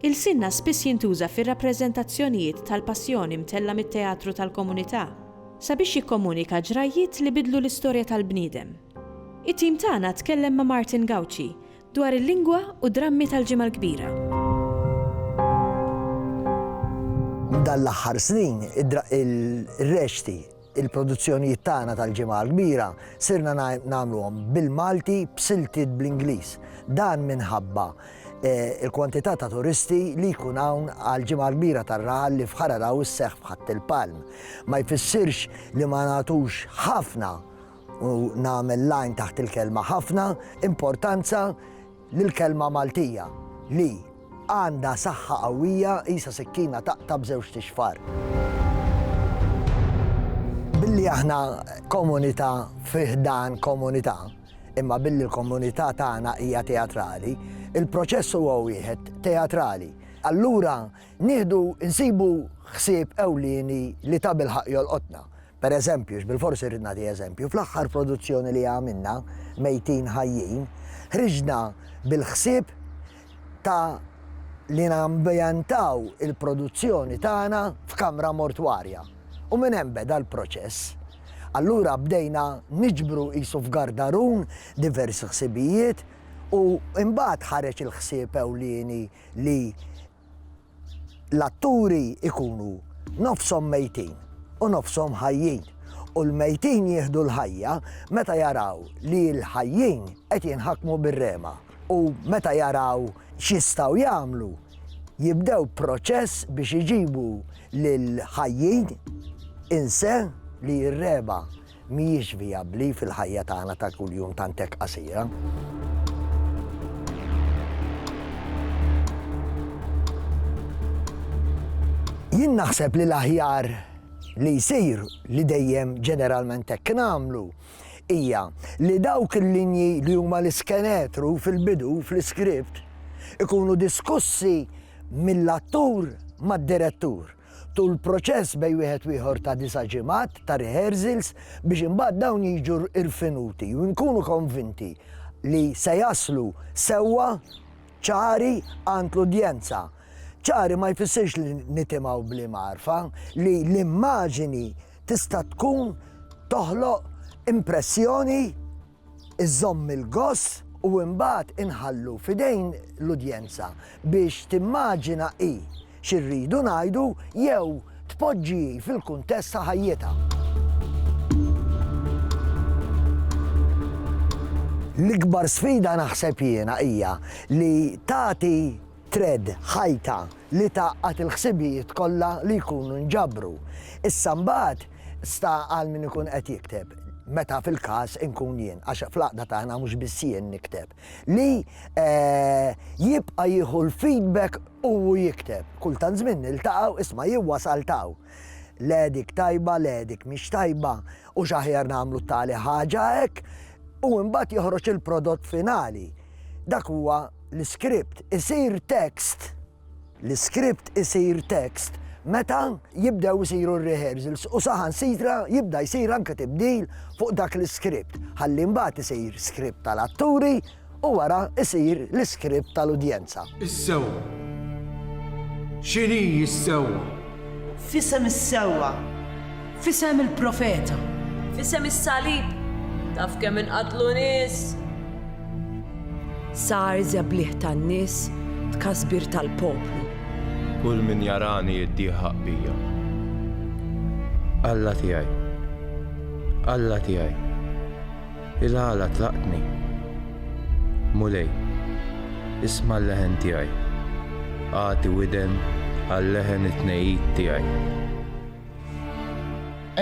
Ilsienna spiss jintuża fir-rappreżentazzjonijiet tal-Passjoni mtella' mit-teatru tal-komunità sabiex jikkomunika ġrajjiet li biddlu l-istorja tal-bniedem. It-tim tagħna tkellem ma' Martin Gauci dwar il-lingwa u d-drammi tal-Ġimgħa l-Kbira. Dawn l-aħħar snin, ir-rexxti Il-produzzjonijiet tagħna tal-Ġimgħa l-Kbira sirna nagħmluhom bil-Malti b'siltiet bl-Ingliż. Dan minħabba il-kwantità ta' turisti li jkun hawn għall-Ġimgħa l-Kbira tar-raħal li f'Ħararaw isseħħ f'Ħatt il-Palm. Ma jfissirx li ma nagħtux ħafna, u nagħmel line taħt il-kelma ħafna, importanza li l-kelma Maltija li, għandha saħħa qawwija qisha sikkina taqta' b'żewġt ixfar. Billi aħna komunità fi ħdan komunità, imma billi l-komunità tagħna hija teatrali, il-proċess huwa wieħed teatrali. Allura nieħdu nsibu ħsieb ewlieni li tabilħaqq jolqotna, Per eżempju, x'bilforsi rrid nagħti eżempju, fl-aħħar produzzjoni li għamilna, Mejtin Ħajjin, ħriġna bil-ħsieb ta' li nambjentaw il-produzzjoni tagħna f'kamra mortwarja. U minn hemm beda l-proċess. Allura bdejna niġbru qisu f'gardarun diversi ħsibijiet u imbagħad ħareġ il-ħsieb ewlieni li l-atturi jkunu nofshom mejtin u nofshom ħajjin u l-mejtin jieħdu l-ħajja meta jaraw li l-ħajjin qed jinħakmu bir-rema u meta jaraw x'jistgħu jagħmlu jibdew proċess biex iġibu lill-ħajjin in se li jirrema. mhijiex vijabbli fil-ħajja tagħna ta' kuljum tant hekk qasira. Jien naħseb li l-aħjar li jsir li dejjem ġeneralment hekk nagħmlu hija li dawk il-linji li huma l-iskenetru fil-bidu fl-iskript ikunu diskussi mill-attur mad-direttur. Tul proċess bejn wieħed u ieħor ta' disa' ġimgħat ta' rehearsals biex imbagħad dawn jiġu rfinuti u nkunu konvinti li se jaslu sewwa, ċari għand l-udjenza. Ċari ma jfissirx li nitimgħu bl-imgħarfa, li l-immaġini tista' tkun toħloq impressjoni, Iżżomm il-goss u imbagħad inħallu f'idejn l-udjenza biex timmaġina hi xi rridu ngħidu jew tpoġġi hi fil-kuntest ta' ħajjitha. L-ikbar sfida naħseb jiena hija li tagħti Thread, ħajta, li tgħaqqad il-ħsibijiet kollha li jkunu nġabru. Issa mbagħad sta għal min ikun qed jikteb, meta fil-każ inkun jien, għax fl-għaqda tagħna mhux biss jien nikteb, li jibqa' jieħu l-feedback u hu jikteb. Kull tant żmien niltaqgħu, isma' jien wasalt'hawn. Le dik tajba, le dik mhix tajba. Hux aħjar nagħmlu t-tali ħaġa hekk u imbagħad joħroġ il-prodott finali. Dak huwa l-iskript. Isir tekst, l-iskript isir tekst meta jibdew isiru r-rehearsals u saħansitra jibda jsir anke tibdil fuq dak l-iskript. Ħalli mbagħad isir skript tal-atturi u wara jsir l-iskript tal-udjenza. Is-sewwa. X'inhi s-sewwa? F'isem is-sewwa. F'isem il-profeta. F'isem is-salib. Taf kemm inqatlu nies? Sar żebliħ tan-nies, tkasbir tal-poplu. Kull min jarani jiddieħaq bija. Alla tiegħi. Alla tiegħi. Il-għala tlaqtni. Mulej, isma' l-leħen tiegħi. Agħti widen għal-leħen it-tnegħid tiegħi.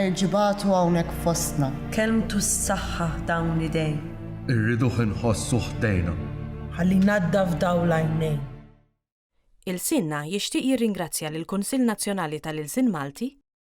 Erġi' bgħatu hawnhekk fostna. Kelmtu ssaħħaħ dawn l-idejn. Irriduh inħossu ħdejna. Ħalli jnaddaf dawl għajnejn. Ilsienna jixtieq jirringrazzja lill-Kunsill Nazzjonali tal-Ilsien Malti,